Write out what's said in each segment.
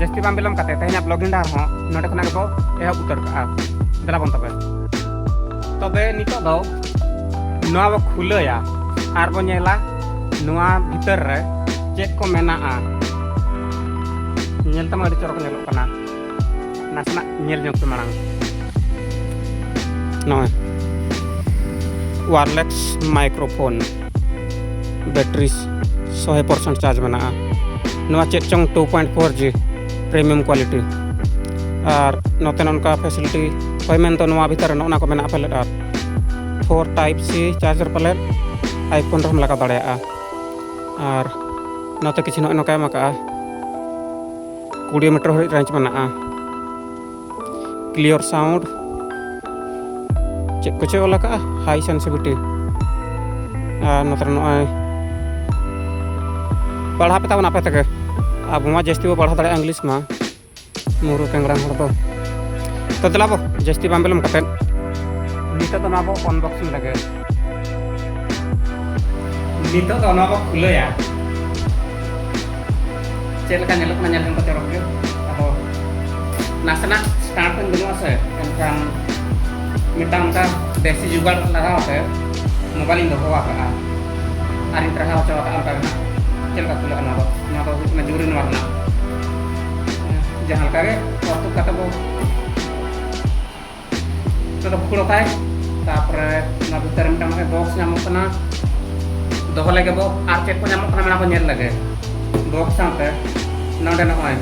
ᱡᱟᱹᱥᱛᱤ ᱵᱟᱝ ᱵᱤᱞᱚᱢ ᱠᱟᱛᱮ ᱛᱮᱦᱮᱧᱟᱜ ᱵᱞᱚᱜ ᱦᱤᱱᱰᱟᱨ ᱦᱚᱸ ᱱᱚᱰᱮ ᱠᱷᱚᱱᱟᱜ ᱜᱮᱵᱚ ᱮᱦᱚᱵ ᱩᱛᱟᱹᱨ ᱠᱟᱜᱼᱟ ᱫᱮᱞᱟ ᱵᱚᱱ ᱛᱚᱵᱮ ᱛᱚᱵᱮ ᱱᱤᱛᱚᱜ ᱫᱚ ᱱᱚᱣᱟ ᱵᱚ ᱠᱷᱩᱞᱟᱹᱭᱟ ᱟᱨ ᱵᱚ ᱧᱮᱞᱟ ᱱᱚᱣᱟ ᱵᱷᱤᱛᱟᱹᱨ ᱨᱮ ᱪᱮᱫ ᱠᱚ ᱢᱮᱱᱟᱜᱼᱟ ᱧᱮᱞ ᱛᱟᱢᱟ ᱟᱹᱰᱤ ᱪᱚᱨᱚᱠ ᱧᱮᱞᱚᱜ ᱠᱟᱱᱟ ᱱᱟᱥᱮᱱᱟᱜ ᱧᱮᱞ ᱧᱚᱜ ᱯᱮ ᱢᱟᱲᱟᱝ ᱱᱚᱜᱼᱚᱭ ᱣᱟᱨᱞᱮᱥ ᱢᱟᱭᱠᱨᱳᱯᱷᱳᱱ ᱵᱮᱴᱨᱤ ᱥᱚᱭ ᱯᱟᱨᱥᱮᱱᱴ ᱪᱟᱨᱡᱽ ᱢᱮᱱᱟᱜᱼᱟ ᱱᱚᱣᱟ ᱪᱮᱫ ᱪᱚᱝ two point four G premium quality ᱟᱨ ᱱᱚᱛᱮ ᱱᱚᱝᱠᱟ ᱯᱷᱮᱥᱤᱞᱤᱴᱤ ᱦᱳᱭ ᱢᱮᱱ ᱫᱚ ᱱᱚᱣᱟ ᱵᱷᱤᱛᱟᱨ ᱨᱮ ᱱᱚᱜᱼᱚ ᱠᱚ ᱢᱮᱱᱟᱜᱼᱟ ᱯᱟᱞᱮᱫ ᱟᱨ ᱯᱷᱳᱨ ᱴᱟᱭᱤᱯ ᱥᱤ ᱪᱟᱨᱡᱟᱨ ᱯᱟᱞᱮᱫ ᱟᱭᱯᱷᱳᱱ ᱨᱮᱦᱚᱸᱢ ᱞᱟᱜᱟᱣ ᱫᱟᱲᱮᱭᱟᱜᱼᱟ ᱟᱨ ᱱᱚᱛᱮ ᱠᱤᱪᱷᱩ ᱱᱚᱜᱼᱚ ᱱᱚᱝᱠᱟ ᱮᱢ ᱟᱠᱟᱜᱼᱟ ᱠᱩᱲᱤ ᱢᱤᱴᱟᱨ ᱦᱟᱹᱨᱤᱡ ᱨᱮᱧᱡᱽ ᱢᱮᱱᱟᱜᱼᱟ ᱠᱞᱤᱭᱚᱨ ᱥᱟᱣᱩᱱᱰ ᱪᱮᱫ ᱠᱚᱪᱚᱭ ᱚᱞ ᱟᱠᱟᱜᱼᱟ ᱦᱟᱭ ᱥᱮᱱᱥᱤᱵᱤᱴᱤ ᱟᱨ ᱱᱚᱛᱮ ᱱᱚᱜᱼᱚᱭ ᱯᱟᱲᱦᱟᱣ ᱯᱮ ᱛᱟᱵᱚᱱ ᱟᱯᱮ ᱛᱮᱜᱮ ᱟᱵᱚ ᱢᱟ ᱡᱟᱹᱥᱛᱤ ᱵᱚ ᱯᱟᱲᱦᱟᱣ ᱫᱟᱲᱮᱭᱟᱜᱼᱟ ᱤᱝᱞᱤᱥ ᱢᱟ ᱢᱩᱨᱩ ᱠᱮᱝᱜᱽᱨᱟᱝ ᱦᱚᱲ ᱫᱚ ᱛᱚ ᱫᱮᱞᱟ ᱵᱚ ᱡᱟᱹᱥᱛᱤ ᱵᱟᱝ ᱵᱤᱞᱚᱢ ᱠᱟᱛᱮᱫ ᱱᱤᱛᱚᱜ ᱫᱚ ᱱᱚᱣᱟ ᱵᱚ ᱚᱱᱵᱚᱠᱥᱤᱝ ᱞᱮᱜᱮ ᱱᱤᱛᱚᱜ ᱫᱚ ᱚᱱᱟ ᱠᱚ ᱠᱷᱩᱞᱟᱹᱭᱟ ᱪᱮᱫ ᱞᱮᱠᱟ ᱧᱮᱞᱚᱜ ᱠᱟᱱᱟ ᱧᱮᱞ ᱡᱚᱝ ᱠᱚ ᱪᱚᱨᱚᱠ ᱜᱮ ᱟᱫᱚ ᱱᱟᱥᱮᱱᱟᱜ ᱥᱴᱟᱨᱴ ᱠᱚᱧ ᱵᱟᱹᱱᱩᱜᱼᱟ ᱥᱮ ᱮᱱᱠᱷᱟᱱ ᱢᱤᱫᱴᱟᱝ ᱚᱱᱠᱟ ᱫᱮᱥᱤ ᱡᱩᱜᱟᱲ ᱞᱟᱜᱟᱣ ᱛᱮ ᱢᱳᱵᱟᱭᱤᱞᱤᱧ ᱫᱚᱦᱚ ᱟᱠᱟᱫᱼᱟ ᱟᱨᱤᱧ ᱴᱨᱟᱦᱟᱣ ᱦᱚᱪᱚ ᱟᱠᱟᱫᱼᱟ ᱚᱱᱠᱟ ᱜᱮ ᱪᱮᱫ ᱞᱮᱠᱟ ᱠᱷᱩᱞᱟᱹᱜᱼᱟ ᱱᱚᱣᱟ ᱫᱚ ᱱᱚᱣᱟ ᱫᱚ ᱦᱩᱭᱩᱜ ᱠᱟᱱᱟ ᱡᱩᱨᱤ ᱱᱚᱣᱟ ᱨᱮᱱᱟᱜ ᱡᱟᱦᱟᱸ ᱞᱮᱠᱟ ᱜᱮ ᱚᱨᱛᱩᱫ ᱠᱟᱛᱮ ᱵᱚ ᱵᱷᱩᱠᱲᱚ ᱠᱟᱭ ᱛᱟᱨᱯᱚᱨᱮ ᱚᱱᱟ ᱵᱷᱤᱛᱟᱹᱨ ᱢᱤᱫᱴᱟᱝ ᱢᱟᱱᱮ ᱵᱚᱠᱥ ᱧᱟᱢᱚᱜ ᱠᱟᱱᱟ ᱫᱚᱦᱚ ᱞᱟᱹᱜᱤᱫ ᱵᱚ ᱟᱨ ᱪᱮᱫ ᱠᱚ ᱧᱟᱢᱚᱜ ᱠᱟᱱᱟ ᱚᱱᱟ ᱠᱚ ᱧᱮᱞ ᱞᱟᱹᱜᱤᱫ ᱵᱚᱠᱥ ᱥᱟᱶᱛᱮ ᱱᱚᱰᱮ ᱱᱚᱜᱼᱚᱭ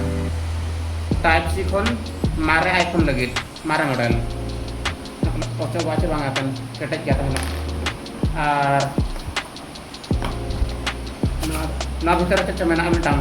ᱴᱟᱭᱤᱯ ᱥᱤ ᱠᱷᱚᱱ ᱢᱟᱨᱮ ᱟᱭᱯᱷᱳᱱ ᱞᱟᱹᱜᱤᱫ ᱢᱟᱨᱮ ᱢᱚᱰᱮᱞ ᱚᱪᱚᱜ ᱵᱟᱪᱚ ᱵᱟᱝ ᱟᱠᱟᱱ ᱠᱮᱴᱮᱡ ᱜᱮ ᱛᱟᱦᱮᱱᱟ ᱟᱨ ᱱᱚᱣᱟ ᱵᱷᱤᱛᱟᱹᱨ ᱨᱮ ᱪᱮᱫ ᱪᱚ ᱢᱮᱱᱟᱜᱼᱟ ᱢᱤᱫᱴᱟᱝ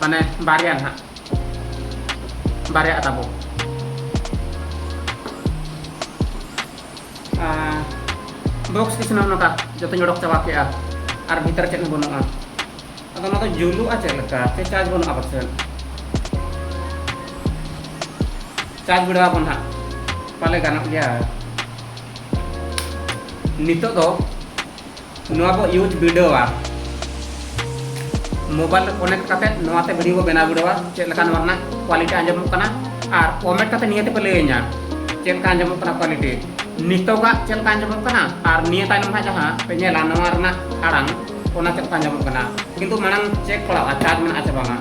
ᱢᱟᱱᱮ ᱵᱟᱨᱭᱟ ᱱᱟᱦᱟᱜ ᱵᱟᱨᱭᱟ ᱛᱟᱵᱚ ᱵᱚᱠᱥ ᱠᱤᱪᱷᱩ ᱱᱚᱝᱠᱟ ᱡᱚᱛᱚᱧ ᱚᱰᱚᱠ ᱪᱟᱵᱟ ᱠᱮᱜᱼᱟ ᱟᱨ ᱵᱷᱤᱛᱟᱹᱨ ᱪᱮᱫ ᱦᱚᱸ ᱵᱟᱹᱱᱩᱜᱼᱟ ᱟᱫᱚ ᱚᱱᱟ ᱫᱚ ᱡᱩᱞᱩᱜᱼᱟ ᱪᱮᱫ ᱞᱮᱠᱟ ᱥᱮ ᱪᱟᱨᱡᱽ ᱵᱟᱹᱱᱩᱜᱼᱟ ᱯᱟᱥᱮᱡ ᱪᱟᱨᱡᱽ ᱵᱤᱲᱟᱹᱣ ᱟᱵᱚᱱ ᱦᱟᱸᱜ ᱯᱟᱞᱮ ᱜᱟᱱᱚᱜ ᱜᱮᱭᱟ ᱱᱤᱛᱚᱜ ᱫᱚ ᱱᱚᱣᱟ ᱵᱚ ᱤᱭᱩᱡᱽ ᱵᱤᱰᱟᱹᱣᱟ ᱢᱳᱵᱟᱭᱤᱞ ᱨᱮ ᱠᱚᱱᱮᱠᱴ ᱠᱟᱛᱮ ᱱᱚᱣᱟ ᱛᱮ ᱵᱷᱤᱰᱤᱭᱳ ᱵᱚ ᱵᱮᱱᱟᱣ ᱵᱤᱰᱟᱹᱣᱟ ᱪᱮᱫ ᱞᱮᱠᱟ ᱱᱚᱣᱟ ᱨᱮᱱᱟᱜ ᱠᱣᱟᱞᱤᱴᱤ ᱟᱸᱡᱚᱢᱚᱜ ᱠᱟᱱᱟ ᱟᱨ ᱠᱚᱢᱮᱱᱴ ᱠᱟᱛᱮ ᱱᱤᱭᱟᱹ ᱛᱮᱯᱮ ᱞᱟᱹᱭᱟᱹᱧᱟ ᱪᱮᱫ ᱞᱮᱠᱟ ᱟᱸᱡᱚᱢᱚᱜ ᱠᱟᱱᱟ ᱠᱣᱟᱞᱤᱴᱤ ᱱᱤᱛᱚᱜᱟᱜ ᱪᱮᱫ ᱞᱮᱠᱟ ᱟᱸᱡᱚᱢᱚᱜ ᱠᱟᱱᱟ ᱟᱨ ᱱᱤᱭᱟᱹ ᱛᱟᱭᱱᱚᱢ ᱦᱟᱸᱜ ᱡᱟᱦᱟᱸ ᱯᱮ ᱧᱮᱞᱟ ᱱᱚᱣᱟ ᱨᱮᱱᱟᱜ ᱟᱲᱟᱝ ᱚᱱᱟ ᱪᱮᱫ ᱞᱮᱠᱟ ᱟᱸᱡᱚᱢᱚᱜ ᱠᱟᱱᱟ ᱠᱤᱱᱛᱩ ᱢᱟᱲᱟᱝ ᱪᱮᱠ ᱯᱟᱲᱟᱜᱼᱟ ᱪᱟᱨᱡᱽ ᱢᱮᱱᱟᱜᱼᱟ ᱥᱮ ᱵᱟᱝᱟ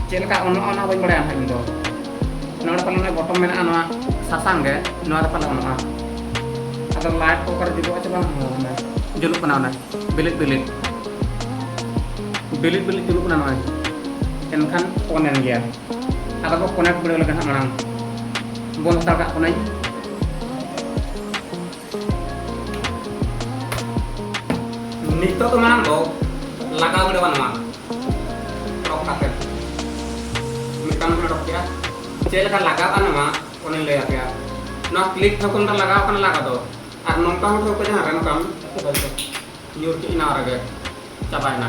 ᱪᱮᱫ ᱞᱮᱠᱟ ᱚᱱᱟ ᱚᱱᱟ ᱵᱟᱹᱧ ᱵᱟᱲᱟᱭᱟ ᱦᱟᱸᱜ ᱤᱧ ᱫᱚ ᱱᱚᱣᱟ ᱫᱚ ᱯᱟᱞᱮ ᱵᱚᱴᱚᱢ ᱢᱮᱱᱟᱜᱼᱟ ᱱᱚᱣᱟ ᱥᱟᱥᱟᱝ ᱜᱮ ᱱᱚᱣᱟ ᱫᱚ ᱯᱟᱞᱮ ᱵᱟᱹᱱᱩᱜᱼᱟ ᱟᱫᱚ ᱞᱟᱭᱤᱴ ᱠᱚ ᱚᱠᱟᱨᱮ ᱡᱩᱞᱩᱜᱼᱟ ᱪᱮ ᱵᱟᱝ ᱡᱩᱞᱩᱜ ᱠᱟᱱᱟ ᱚᱱᱟ ᱵᱤᱞᱤᱫ ᱵᱤᱞᱤᱫ ᱵᱤᱞᱤᱫ ᱵᱤᱞᱤᱫ ᱡᱩᱞᱩᱜ ᱠᱟᱱᱟ ᱱᱚᱜᱼᱚᱭ ᱮᱱᱠᱷᱟᱱ ᱚᱱ ᱮᱱ ᱜᱮᱭᱟ ᱟᱫᱚ ᱵᱚ ᱠᱚᱱᱮᱠᱴ ᱵᱤᱰᱟᱹᱣ ᱞᱮᱠᱷᱟᱱ ᱢᱟᱲᱟᱝ ᱵᱚᱱ ᱦᱟᱛᱟᱲ ᱠᱟᱜ ᱠᱟᱹᱱᱟᱹᱧ ᱱᱤᱛᱚᱜ ᱫᱚ ᱢᱟᱲᱟᱝ ᱫᱚ ᱞᱟᱜᱟᱣ ᱜᱤᱰᱤ ᱵᱟᱝ ᱱᱚᱣᱟ ᱨᱚᱜ ᱠᱟᱛᱮ ᱢᱤᱫᱴᱟᱝ ᱵᱚᱱ ᱨᱚᱜ ᱠᱮᱜᱼᱟ ᱪᱮᱫ ᱞᱮᱠᱟ ᱞᱟᱜᱟᱜᱼᱟ ᱱᱚᱣᱟ ᱚᱱᱮ ᱞᱟᱹᱭ ᱟᱯᱮᱭᱟ ᱱᱚᱣᱟ ᱠᱞᱤᱠ ᱴᱷᱟᱹᱣᱠᱟᱹ ᱢᱤᱫᱴᱟᱝ ᱞᱟᱜᱟᱣ ᱠᱟᱱᱟ ᱞᱟᱜᱟ ᱫᱚ ᱟᱨ ᱱᱚᱝᱠᱟ ᱦᱚᱸ ᱴᱷᱟᱹᱣᱠᱟᱹ ᱡᱟᱦᱟᱸ ᱨᱮ ᱱᱚᱝᱠᱟᱢ ᱧᱩᱨ ᱠᱮᱫ ᱱᱚᱣᱟ ᱨᱮᱜᱮ ᱪᱟᱵᱟᱭᱮᱱᱟ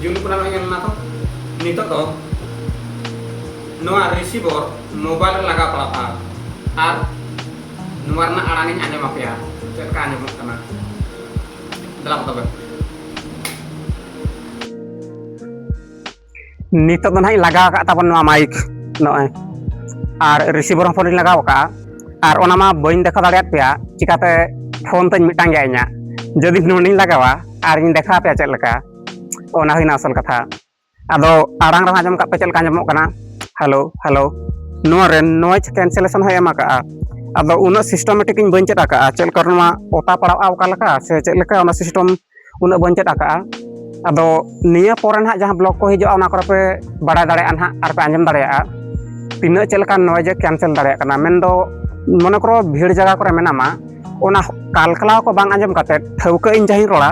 ᱡᱩᱞᱩᱜ ᱠᱟᱱᱟ ᱧᱮᱞ ᱢᱮ ᱛᱚ ᱱᱤᱛᱚᱜ ᱫᱚ ᱱᱚᱣᱟ ᱨᱤᱥᱤᱵᱷᱚᱨ ᱢᱳᱵᱟᱭᱤᱞ ᱨᱮ ᱞᱟᱜᱟᱣ ᱯᱟᱲᱟᱜᱼᱟ ᱟᱨ ᱱᱚᱣᱟ ᱨᱮᱱᱟᱜ ᱟᱲᱟᱝ ᱤᱧ ᱟᱸᱡᱚᱢ ᱟᱯᱮᱭᱟ ᱪᱮᱫ ᱞᱮᱠᱟ ᱟᱸᱡᱚᱢᱚᱜ ᱠᱟᱱᱟ ᱫᱮᱞᱟ ᱛᱚᱵᱮ ᱱᱤᱛᱚᱜ ᱫᱚ ᱱᱟᱦᱟᱜ ᱤᱧ ᱞᱟᱜᱟᱣ ᱟᱠᱟᱫ ᱛᱟᱵᱚᱱ ᱱᱚᱣᱟ ᱢᱟᱭᱤᱠ ᱱᱚᱜᱼᱚᱭ ᱟᱨ ᱨᱤᱥᱤᱵᱷᱟᱨ ᱦᱚᱸ ᱯᱷᱳᱱ ᱤᱧ ᱞᱟᱜᱟᱣ ᱟᱠᱟᱫᱼᱟ ᱟᱨ ᱚᱱᱟ ᱢᱟ ᱵᱟᱹᱧ ᱫᱮᱠᱷᱟᱣ ᱫᱟᱲᱮᱭᱟᱫ ᱯᱮᱭᱟ ᱪᱤᱠᱟᱛᱮ ᱯᱷᱳᱱ ᱛᱤᱧ ᱢᱤᱫᱴᱟᱝ ᱜᱮᱭᱟ ᱤᱧᱟᱹᱜ ᱡᱩᱫᱤ ᱱᱚᱸᱰᱮᱧ ᱞᱟᱜᱟᱣᱟ ᱟᱨ ᱤᱧ ᱫᱮᱠᱷᱟᱣ ᱯᱮᱭᱟ ᱪᱮᱫ ᱞᱮᱠᱟ ᱚᱱᱟ ᱦᱩᱭᱱᱟ ᱟᱥᱚᱞ ᱠᱟᱛᱷᱟ ᱟᱫᱚ ᱟᱲᱟᱝ ᱨᱮᱦᱚᱸ ᱟᱸᱡᱚᱢ ᱠᱟᱜ ᱯᱮ ᱪᱮᱫ ᱞᱮᱠᱟ ᱟᱸᱡᱚᱢᱚᱜ ᱠᱟᱱᱟ ᱦᱮᱞᱳ ᱦᱮᱞᱳ ᱱᱚᱣᱟ ᱨᱮ ᱱᱚᱭᱮᱡᱽ ᱠᱮᱱᱥᱮᱞᱮᱥᱚᱱ ᱦᱚᱸ ᱮᱢ ᱟᱠᱟᱫᱼᱟ ᱟᱫᱚ ᱩᱱᱟᱹᱜ ᱥᱤᱥᱴᱮᱢᱮᱴᱤᱠ ᱤᱧ ᱵᱟᱹᱧ ᱪᱮᱫ ᱟᱠᱟᱫᱼᱟ ᱪᱮᱫ ᱞᱮᱠᱟ ᱱᱚᱣᱟ ᱚᱛᱟ ᱯᱟᱲᱟᱜᱼᱟ ᱚᱠᱟ ᱞᱮᱠᱟ ᱥᱮ ᱪᱮᱫ ᱞᱮᱠᱟ ᱚᱱᱟ ᱥᱤᱥᱴᱮᱢ ᱩᱱᱟᱹᱜ ᱵᱚᱱ ᱪᱮᱫ ᱟᱠᱟᱫᱼᱟ ᱟᱫᱚ ᱱᱤᱭᱟᱹ ᱯᱚᱨᱮ ᱱᱟᱦᱟᱜ ᱡᱟᱦᱟᱸ ᱵᱞᱚᱜ ᱠᱚ ᱦᱤᱡᱩᱜᱼᱟ ᱚᱱᱟ ᱠᱚᱨᱮ ᱯᱮ ᱵᱟᱲᱟᱭ ᱫᱟᱲᱮᱭᱟᱜᱼᱟ ᱱᱟᱦᱟᱜ ᱟᱨ ᱯᱮ ᱟᱸᱡᱚᱢ ᱫᱟᱲᱮᱭᱟᱜᱼᱟ ᱛᱤᱱᱟᱹᱜ ᱪᱮᱫ ᱞᱮᱠᱟ ᱱᱚᱭᱡᱮ ᱠᱮᱱᱥᱮᱞ ᱫᱟᱲᱮᱭᱟᱜ ᱠᱟᱱᱟ ᱢᱮᱱᱫᱚ ᱢᱚᱱᱮ ᱠᱚᱨᱚ ᱵᱷᱤᱲ ᱡᱟᱭᱜᱟ ᱠᱚᱨᱮ ᱢᱮᱱᱟᱢᱟ ᱚᱱᱟ ᱠᱟᱞᱠᱟᱞᱟᱣ ᱠᱚ ᱵᱟᱝ ᱟᱸᱡᱚᱢ ᱠᱟᱛᱮ ᱴᱷᱟᱹᱣᱠᱟᱹ ᱤᱧ ᱡᱟᱦᱟᱸᱧ ᱨᱚᱲᱟ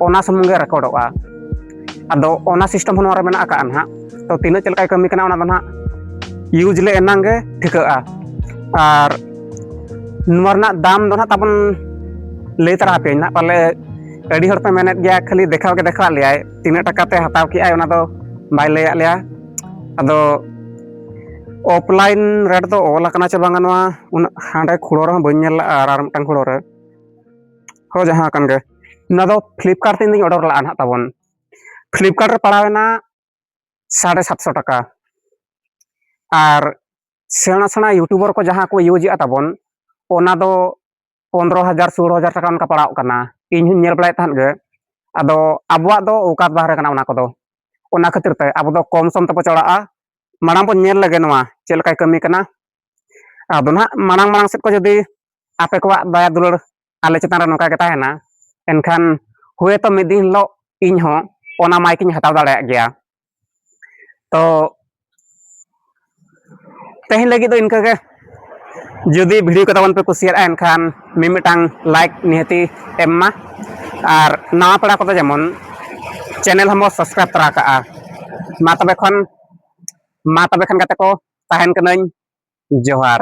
ᱚᱱᱟ ᱥᱩᱢᱩᱝ ᱜᱮ ᱨᱮᱠᱚᱨᱰᱚᱜᱼᱟ ᱟᱫᱚ ᱚᱱᱟ ᱥᱤᱥᱴᱮᱢ ᱦᱚᱸ ᱱᱚᱣᱟ ᱨᱮ ᱢᱮᱱᱟᱜ ᱟᱠᱟᱫᱼᱟ ᱱᱟᱦᱟᱜ ᱛᱚ ᱛᱤᱱᱟᱹᱜ ᱪᱮᱫ ᱞᱮᱠᱟᱭ ᱠᱟᱹᱢᱤ ᱠᱟᱱᱟ ᱚᱱᱟ ᱫᱚ ᱱᱟᱦᱟᱜ ᱤᱭᱩᱡᱽ ᱞᱮ ᱮᱱᱟᱝ ᱜᱮ ᱴᱷᱤᱠᱟᱹᱜᱼᱟ ᱟᱨ ᱱᱚᱣᱟ ᱨᱮᱱᱟᱜ ᱫᱟᱢ ᱫᱚ ᱱᱟᱜ ᱛᱟᱵᱚᱱ ᱞᱟᱹᱭ ᱛᱟᱨᱟ ᱟᱯᱮᱭᱟᱹᱧ ᱱᱟᱜ ᱯᱟᱞᱮ ᱟᱹᱰᱤ ᱦᱚᱲ ᱯᱮ ᱢᱮᱱᱮᱫ ᱜᱮᱭᱟ ᱠᱷᱟᱹᱞᱤ ᱫᱮᱠᱷᱟᱣ ᱜᱮ ᱫᱮᱠᱷᱟᱣᱟᱫ ᱞᱮᱭᱟᱭ ᱛᱤᱱᱟᱹᱜ ᱴᱟᱠᱟ ᱛᱮ ᱦᱟᱛᱟᱣ ᱠᱮᱜᱼᱟᱭ ᱚᱱᱟ ᱫᱚ ᱵᱟᱭ ᱞᱟᱹᱭᱟᱫ ᱞᱮᱭᱟ ᱟᱫᱚ ᱚᱯᱷᱞᱟᱭᱤᱱ ᱨᱮᱴ ᱫᱚ ᱚᱞ ᱟᱠᱟᱱᱟ ᱪᱮ ᱵᱟᱝᱟ ᱱᱚᱣᱟ ᱩᱱᱟᱹᱜ ᱦᱟᱸᱰᱮ ᱠᱷᱩᱲᱳ ᱨᱮᱦᱚᱸ ᱵᱟᱹᱧ ᱧᱮᱞ ᱞᱟᱜᱼᱟ ᱟᱨ ᱟᱨ ᱢᱤᱫᱴᱟᱝ ᱠᱷᱩᱲᱳ ᱨᱮ ᱦᱳ ᱡᱟᱦᱟᱸ ᱠᱟᱱ ᱜᱮ ᱱᱚᱣᱟ ᱫᱚ ᱯᱷᱞᱤᱯᱠᱟᱨᱴ ᱛᱮ ᱤᱧ ᱫᱩᱧ ᱚᱰᱟᱨ ᱞᱟᱜᱼᱟ ᱱᱟᱜ ᱛᱟᱵᱚᱱ ᱯᱷᱞᱤᱯᱠᱟᱨᱴ ᱨᱮ ᱯᱟᱲᱟᱣᱮᱱᱟ ᱥᱟᱲᱮ ᱥᱟᱛᱥᱚ ᱴᱟᱠᱟ ᱟᱨ ᱥᱮᱬᱟ ᱥᱮᱬᱟ ᱤᱭᱩᱴᱩᱵᱟᱨ ᱠᱚ ᱡᱟᱦᱟᱸ ᱠᱚ ᱤᱭᱩᱡᱮᱜᱼᱟ ᱛᱟᱵᱚᱱ ᱚᱱᱟ ᱫᱚ ᱯᱚᱱᱨᱚ ᱦᱟᱡᱟᱨ ᱥᱳᱞᱳ ᱦᱟᱡᱟᱨ ᱴᱟᱠᱟ ᱚᱱᱠᱟ ᱯᱟᱲᱟᱣ ᱠᱟᱱᱟ ᱤᱧ ᱦᱚᱸᱧ ᱧᱮᱞ ᱵᱟᱲᱟᱭᱮᱫ ᱛᱟᱦᱮᱸᱫ ᱜᱮ ᱟᱫᱚ ᱟᱵᱚᱣᱟᱜ ᱫᱚ ᱚᱠᱟᱛ ᱵᱟᱦᱨᱮ ᱠᱟᱱᱟ ᱚᱱᱟ ᱠᱚᱫᱚ ᱚᱱᱟ ᱠᱷᱟᱹᱛᱤᱨ ᱛᱮ ᱟᱵᱚ ᱫᱚ ᱠᱚᱢ ᱥᱚᱢ ᱛᱮᱵᱚ ᱪᱟᱞᱟᱜᱼᱟ ᱢᱟᱲᱟᱝ ᱵᱚᱱ ᱧᱮᱞ ᱞᱮᱜᱮ ᱱᱚᱣᱟ ᱪᱮᱫ ᱞᱮᱠᱟᱭ ᱠᱟᱹᱢᱤ ᱠᱟᱱᱟ ᱟᱫᱚ ᱱᱟᱦᱟᱜ ᱢᱟᱲᱟᱝ ᱢᱟᱲᱟᱝ ᱥᱮᱫ ᱠᱚ ᱡᱩᱫᱤ ᱟᱯᱮ ᱠᱚᱣᱟᱜ ᱫᱟᱭᱟ ᱫᱩᱞᱟᱹᱲ ᱟᱞᱮ ᱪᱮᱛᱟᱱ ᱨᱮ ᱱᱚᱝᱠᱟ ᱜᱮ ᱛᱟᱦᱮᱱᱟ ᱮᱱᱠᱷᱟᱱ ᱦᱳᱭᱛᱚ ᱢᱤᱫ ᱫᱤᱱ ᱦᱤᱞᱳᱜ ᱤᱧ ᱦᱚᱸ ᱚᱱᱟ ᱢᱟᱭᱤᱠ ᱤᱧ ᱦᱟᱛᱟᱣ ᱫᱟᱲᱮᱭᱟᱜ ᱜᱮᱭᱟ ᱛᱚ ᱛᱮᱦᱮᱧ ᱞᱟᱹᱜᱤᱫ ᱫᱚ ᱤᱱᱠᱟᱹ ᱜᱮ ᱡᱩᱫᱤ ᱵᱷᱤᱰᱤᱭᱳ ᱠᱚ ᱛᱟᱵᱚᱱ ᱯᱮ ᱠᱩᱥᱤᱭᱟᱜᱼᱟ ᱮᱱᱠᱷᱟᱱ ᱢᱤᱢᱤᱫᱴᱟᱝ ᱞᱟᱭᱤᱠ ᱱᱤᱦᱟᱹᱛᱤ ᱮᱢ ᱢᱟ ᱟᱨ ᱱᱟᱣᱟ ᱯᱮᱲᱟ ᱠᱚᱫᱚ ᱡᱮᱢᱚᱱ ᱪᱮᱱᱮᱞ ᱦᱚᱸᱵᱚ ᱥᱟᱵᱥᱠᱨᱟᱭᱤᱵ ᱛᱚᱨᱟ ᱠᱟᱜᱼᱟ ᱢᱟ ᱛᱚᱵᱮ ᱠᱷᱚᱱ ᱢᱟ ᱛᱚᱵᱮ ᱠᱷᱟᱱ ᱜᱟᱛᱮ ᱠᱚ ᱛᱟᱦᱮᱱ ᱠᱟᱹᱱᱟᱹᱧ ᱡᱚᱦᱟᱨ